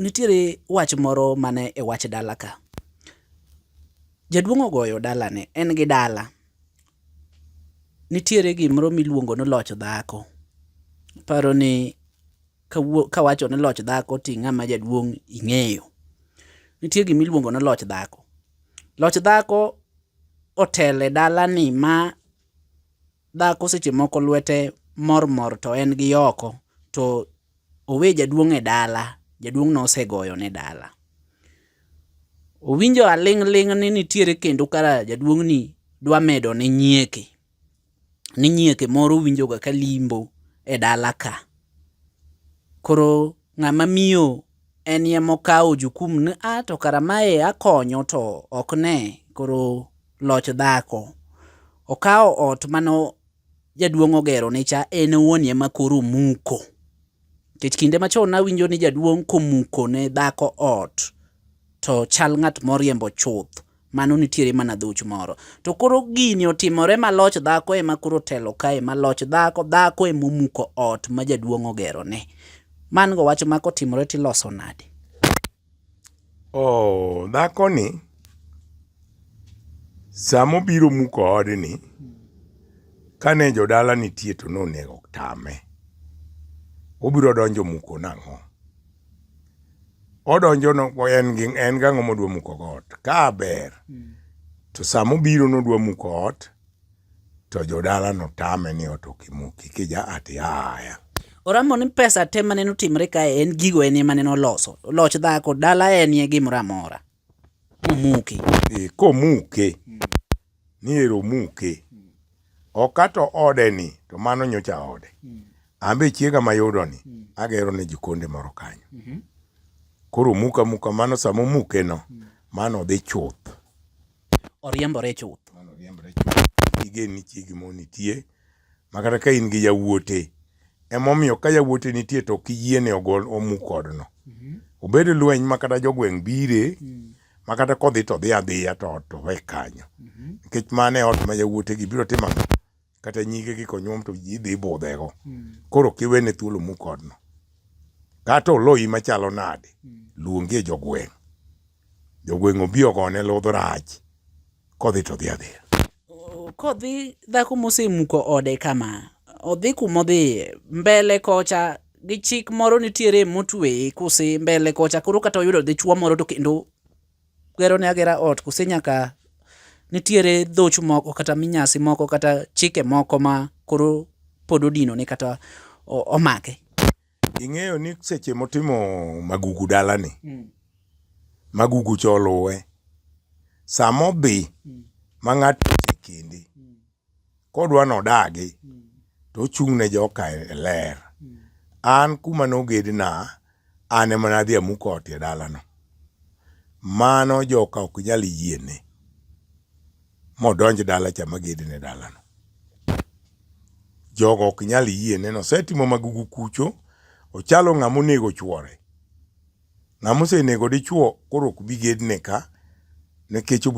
Nitiere wach moro mane e wach dala ka. Jaduong' ogoyo dalane, en gi dala. Nitiere gimoro miluongo ni loch dhako. Aparo ni kawacho ni loch dhako to ing'ama jaduong' ing'eyo. Nitie gima iluongo ni loch dhako. Loch dhako otelo e dalani ma dhako seche moko lwete mor mor to en gi oko to owe jaduong' e dala, jaduong' no osegoyo ne dala. Owinjo aling' ling' ni nitiere kendo kara jaduong' ni dwa medo ne nyieke. Ni nyieke moro winjo ga ka limbo e dala ka. Koro ng'ama miyo en ye mokawo jukum ni a to kara mae akonyo to ok ne koro loch dhako. Okawo ot mano. Jaduong' ogero ni cha en owuon ema koro omuko. Nikech kinde machon nawinjo ni jaduong' komuko ne dhako ot to chal ng'at moriembo chuth, mano nitiere mana dhuch moro. To koro gini otimore ma loch dhako ema koro otelo kae ma loch dhako, dhako ema omuko ot ma jaduong' ogeroni. Man go wach ma kotimore to iloso nade? Oh, dhakoni sama obiro muko odni kane jodala nitie to nonego tame. Obiro donjo muko nang'o? Odonjo no en gi en gang'o modwa muko got. Ka ber to sama obiro nodwa muko ot To jodala notame ni ot ok imuki kija ati aya. Oramo ni pesa te mane notimre kae en gigo en ema ne noloso. Loch dhako dala en ye gimoro amora. Omuki. Ee, komuke ni ero muke okato ode ni to mano nyocha ode ambe chiega mayudo ni agero ne jikonde moro kanyo koro muka muka mano samo muke no mano dhi chuth oriembore chuth. Mano oriembore chuth. Igen ni chiegi mo nitie. Makata ka in gi yawuote. Emomiyo ka yawuote nitie to kiyiene ogol omu kodno. Mm -hmm. Obed lweny makata jogweng' bire. Mm -hmm. Makata kodhi to dhi adhiya to ot to we kanyo. Mm -hmm. Nikech mane ot ma yawuote gi biro timo kata nyige gi konyuom to ji dhi budhego hmm. koro kiwene thuolo mukodno kata oloyi machalo nade hmm. luongie jogweng' jogweng' obi ogone ludh rach kodhi to dhi adhiya kodhi dhako mosemuko ode kama odhi kumodhi mbele kocha gi chik moro nitiere motweye kose mbele kocha koro kata oyudo dichuo moro to kendo gero ne agera ot kose nyaka nitiere dhoch moko kata minyasi moko kata chike moko ma koro pod odino ne kata omake. Ing'eyo ni seche motimo magugu dalani, mm. magugu cha oluwe, sama odhi mm. ma ng'ato osekende, kodwa nodagi to ochung' ne joka e ler. An kuma nogedna an ema nadhi amuko ot e dalano. Mano joka ok nyal yiene modonj dala cha magedne dalano. Jogo ok nyal yiene nosetimo magugu kucho ochalo ng'ama onego chwore. Ng'ama osenego dichwo koro ok bi gedne ka nikech obiro